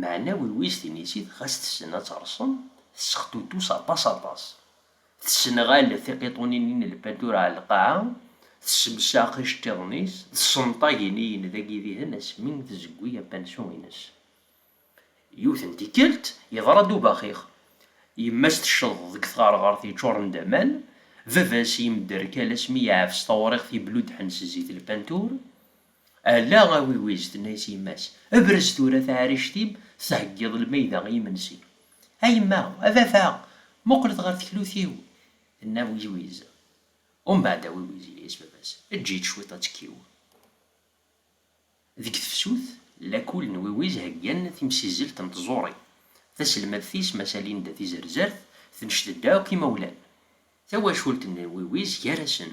Meɛna wiwis tinisit ɣas tessen ad terṣem, tessextutus aṭas aṭas. Tessenɣal tiqiṭunin-nni n lpanturi ɣer lqaɛa, tessemsax iceṭṭiḍen-is, tessenṭag iniyen d agidihen asmi tzeggi apansu-ines. Yiwet n tikkelt, yeḍra-d ubaxix. Yemma-s tecceḍ deg tɣerɣert yeččuren d aman, baba-s yemderkal asmi yeɛfes tawriqt yebluddḥen s zzit lpantur. Ala a Wiwiz, tenna-as yemma-s, brez tura taɛrict-im, theggiḍ lmayda i yimensi. A yemma, a baba, muqlet ɣer teklut-iw! tenna Wiwiz. Umbeɛd a Wiwiz, yenna-as baba-s, eǧǧ-itt cwiṭ ad tekkiw. Deg tefsut, lakul n Wiwiz heggan timsizzelt n tẓuri. Taselmadt-is Massa Linda Tizerzert tenced-d akk imawlan. Tawacult n Wiwiz gar-asen.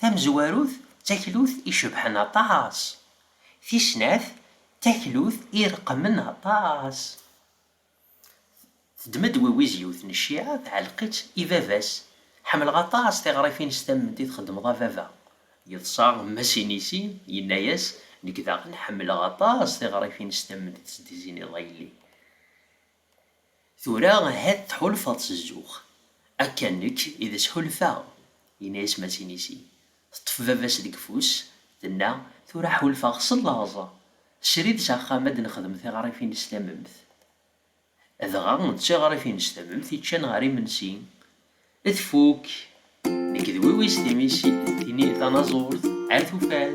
Tamezwarut d taklut icebḥen aṭas. Tis snat d taklut ireqmen aṭas. Teddem-d Wiwiz yiwet n cciɛa tɛelleq-itt i baba-s, Ḥemmleɣ aṭas tiɣrifin s tamment i txeddmeḍ a baba. Yeḍsa Mass Inisi, yenna-as, Nekk daɣen ḥemmleɣ aṭas tiɣrifin s tamment i tesdiziniḍ a yelli. Tura ahat tḥulfaḍ s zzux. Akka nekk i d as-ḥulfaɣ, yenna-as Masin i sin. Teṭṭef baba-s deg ufus, tenna, Tura ḥulfaɣ s llaẓ. Srid s axxam ad d-nexdem tiɣrifin s tamemt. Dɣa d tiɣrifin s tamemt i ččan ɣer imensi. Tfukk! Nekk d wiwis timi-s tanaẓurt ar tufat.